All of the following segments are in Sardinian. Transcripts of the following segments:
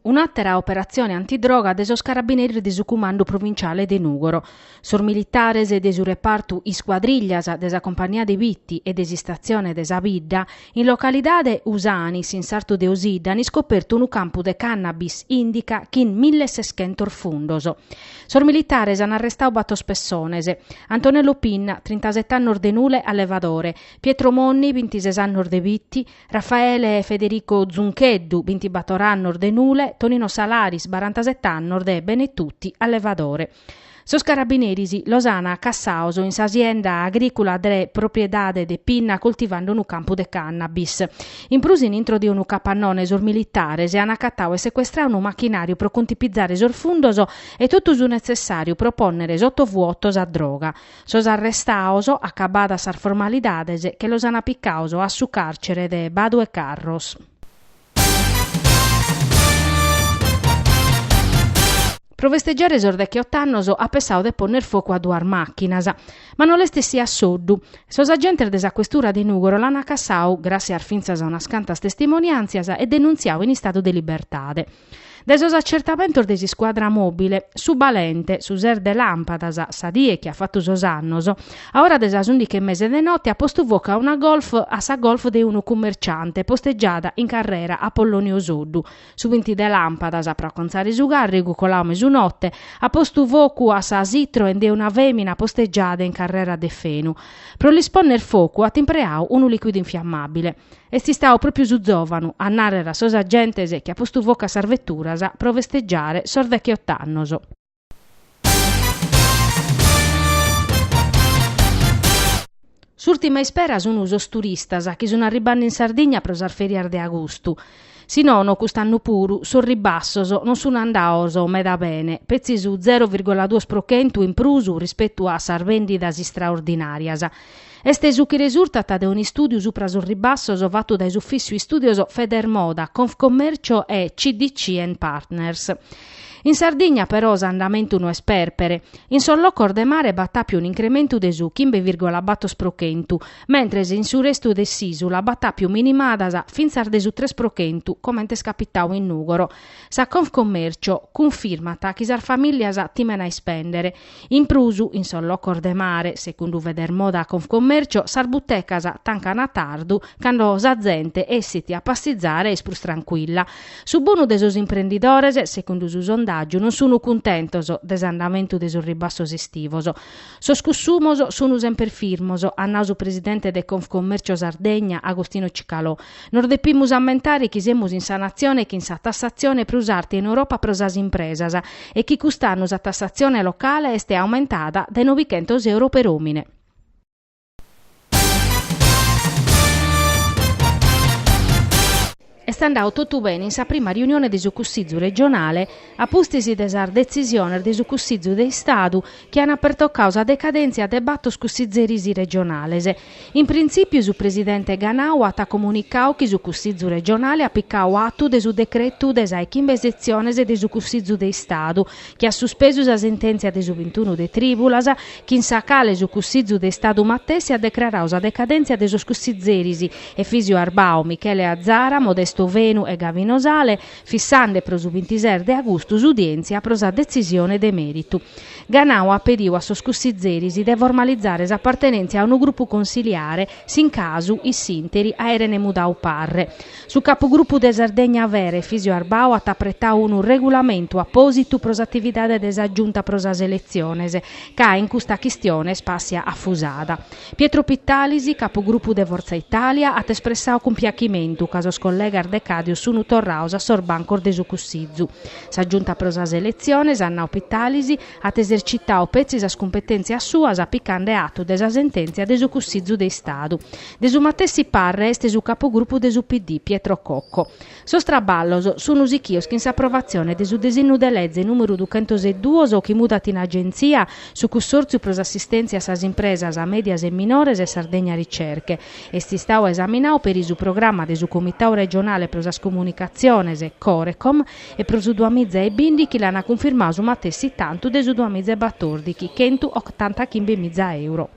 Un'àtera operatzione antidroga de sos carabineris de su Cumandu Provinciale de Nùgoro. Sos militares de su repartu Iscuadrillas de sa Compagnia de Bitti e de s'istatzione de sa bidda, in localidade Usanis, in sartu de Osidda, an iscopertu unu campu de cannabis indica chin mille e seschentos fundos. Sos militares an arrestadu batos pessones, Antonello Pinna, trintasete annos de Nule allevadore, Pietro Monni, bintises annos de Bitti, Raffaele Federico Zuncheddu, bintibator annos de Nule, Tonino Salaris, barantasette annos de Benetutti, allevadore. Sos carabineris los an cassados in s'asienda agrìcula de propriedade de Pinna coltivando unu campu de cannabis. In prus in intro de unu capannone sos militares an acatadu e secuestradu unu machinàriu pro contipizare sos fundos e totu su netzessàriu pro pònnere sotovuoto sa droga. Sos arrestados, acabadas sas formalidades, che los ana picados a su càrcere de Badu 'e Carros. Pro festeggiare sos dechiot'annos at pensadu de ponner focu a duas màchinas. Ma no l'est essia a soddu. Sos agentes de sa questura de Nùgoro l'ana cassadu, gràssias fintzas a unas cantas testimoniàntzias, e denuntziadu in istadu de libertade. De sos acertamentos de s'iscuadra mòbile, su balente, su ses de làmpadas, sa die chi at fatu sos annos, a ora de sas ùndighi e mesa de note at postu focu a una Golf a sa Golf de unu cummerciante postegiada in carrera Apollonio Soddu, su binti de làmpadas, pro acontzare su càrrigu coladu mesunote, at postu focu a sa Citroen de una fèmina postegiada in carrera Deffenu. Pro lis pònnere focu at impreadu unu lìquidu infiammàbile. Est istadu pròpiu su zòvanu a nàrrere a sos agentes chi at postu focu a sas veturas pro festegiare sos decheot'annos. S'ùrtima ispera sun sos turistas chi sun arribande in Sardigna pro sas fèrias de agustu. Si nono, cust'annu puru, sos ribassos non sun andados meda bene, petzi su zero virgola duos pro chentu in prus rispetu a sas vèndidas istraordinàrias. Est su chi resurtat de un'istùdiu supra sos ribassos fatu dae s'ufìssiu istùdios Federmoda, Confcommercio e CDC and Partners. In Sardigna però s'andamentu no est pèrpere. In sos locos de mare b'at àpiu un'incrementu de su chimbe virgola batos pro chentu, mentres in su restu de s'ìsula b'at àpiu minimadas fintzas de su tres pro chentu, comente est capitadu in Nùgoro. Sa Confcommercio cunfirmat chi sas famìllias timen a ispèndere. In prus, in sos locos de mare, segundu Federmoda Confcommercio, sas butecas tancan a tardu, cando sa zente essit a passizare est prus trancuilla. Su bonu de sos imprendidores, segundu su sondàgiu, non sunu cuntentos de s'andamentu de sos ribassos estivos. Sos cussumos sunu semper firmos, at nau su presidente de Confcommercio Sardegna, Agostino Cicalò. Nos depimus ammentare chi semus in sa natzione chin sa tassatzione prus arta in Europa pro sas impresas e chi cust'annu sa tassatzione locale est aumentada dae novichentos euro per omine. Est andadu totu bene in sa prima riunione de su Cussizu regionale a pustis de sas detzisiones de su Cussizu de Istadu chi ant pertocadu sa decadèntzia de batos cussizeris regionales. In printzìpiu su presidente Ganau at comunicau chi su Cussizu regionale at picau atu de su decretu de sa 'e chimbe setzione de su Cussizu de Istadu chi at suspesu sa sentèntzia de su bintunu de trìbulas chin sa cale su Cussizu de Istadu matessi at decrarau sa decadèntzia de sos cussizeris Efisio Arbau, Michele Azara, Modesto Fenu e Gavino Sale, fissande pro su bintises de agustu s'udièntzia pro sa detzisione de mèritu. Ganau at pediu a sos cussizeris de formalizare s'apartenèntzia a unu grupu consiliare s'in casu in s'interi aerene mudau parre. Su capugrupu de Sardegna Vera, Efisio Arbau at apretau unu regulamentu apòsitu pro s'atividade de sa Giunta pro sas eletziones ca in custa chistione spàssiat afusada. Pietro Pittalis, capu grupu de Fortza Italia, at espressau cumpiachimentu ca sos collegas decadios sunu torraus a sos bancos de su Cussizu. Sa Giunta pro sas eletziones, at nau Pittalis, at esercitau petzi sas cumpetèntzias suas picande atu de sa sentèntzia de su Cussizu de Istadu. De su matessi parre est su capugrupu de su PD, Pietro Cocco. Sos traballos sun sichios chin s'approvatzione de su desinnu de leze nùmeru duchentoseduos chi mudat in Agentzia su Cussòrtziu pro s'assistèntzia a sas impresas mèdias e minores Sardegna Ricerche. Est istadu esaminadu peri su programma de su Comitadu Regionale pro sas Comunicatziones, Corecom, pro su duamiza e bìndichi chi l'an cunfirmadu su matessi tantu de su duamiza e batòrdichi, chentu otanta chimbe miza euro.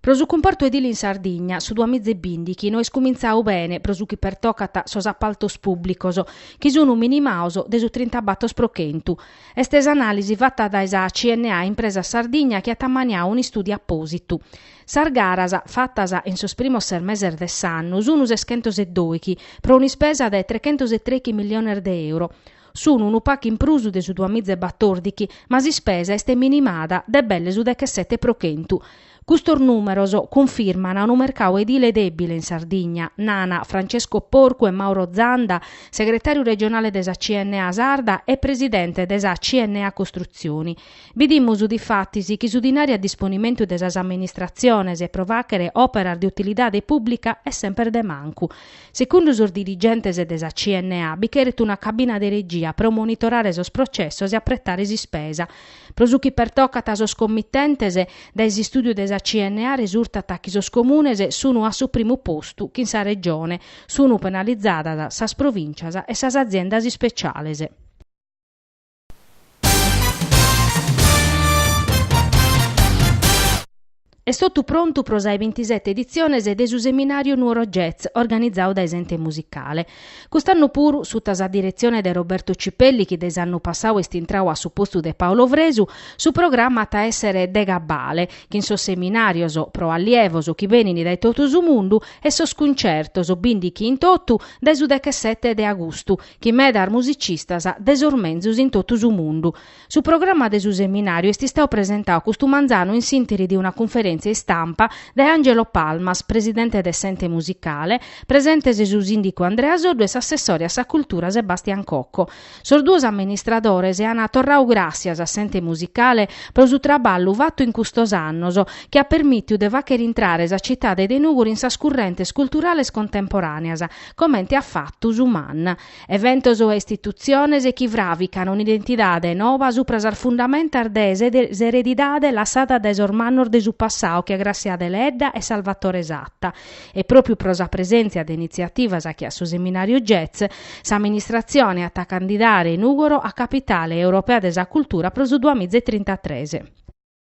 Pro su cumpartu edile in Sardigna, su duamiza e bìndichi no est cumintzadu bene pro su chi pertocat sos apaltos pùblicos, chi sun minimados de su trintabatos pro chentu, est s'anàlisi fata dae sa CNA Impresa Sardigna chi at ammaniadu un'istùdiu apòsitu. Sas garas, fatas in sos primos ses meses de s'annu, sun seschentos e dòichi, pro un'ispesa de trechentos e trèichi milliones de euro. Sunu unu pacu in prus de su duamiza e batordichi, ma s'ispesa est minimada de belle su dechesete pro chentu. Custos nùmeros cunfirmana unu mercau edile dèbile in Sardigna, nana Francesco Porcu e Mauro Zanda, segretàriu regionale de sa CNA Sarda e presidente de sa CNA Costruzioni. Bidimus difatis chi su dinari a disponimentu de sas amministratziones pro fàchere òperas de utilidade pùblica est semper de mancu. Secundu sos dirigentes de sa CNA bi cheret una cabina de regia pro monitorare sos processos e apretare s'ispesa. Pro su chi pertocat sos committentes, dae s'istùdiu de sa CNA resurtat chi sos comunes sunt a su primu postu chin sa Regione, sunt penalizadas sas provìncias e sas aziendas ispeciales. Est totu prontu pro sa 'e bintisete editziones de su Seminàriu Nuoro Jazz organizadu dae s'Ente Musicale. Cust'annu puru, suta sa diretzione de Roberto Cipelli chi dae s'annu passadu est intradu a su postu de Paolo Fresu, su programa at a èssere de cabale, chin sos seminàrios pro allievos chi benint dae totu su mundu e sos cuntzertos, bìndichi in totu dae su dechesete de agustu, chin medas musicistas de sos menzus in totu su mundu. Su programma de su seminàriu est istadu presentadu custu manzanu in s'interi de una cunferèntzia istampa dae Angelo Palmas, presidente de s'Ente Musicale, presentes su sìndicu Andrea Soddu e s'assessore a sa Cultura Sebastian Cocco. Sos duos amministradores ant torradu gràssias a s'Ente Musicale pro su traballu fatu in custos annos, chi at permìtiu de fàchere intrare sa citade de Nùgori in sas currentes culturales contemporàneas, comente at fatu su MAN, eventos e istitutziones chi fràvican un'identidade noba supra sas fundamentas de s'eredidade lassada dae sos mannos de su passadu che a Gràssia Deledda e Salvatore Satta. E pròpiu pro sa presèntzia de initziativas che a su seminàriu Jazz, s'amministratzione at a candidare Nùgoro a Capitale Europea de sa Cultura pro su duamiza e trintatres.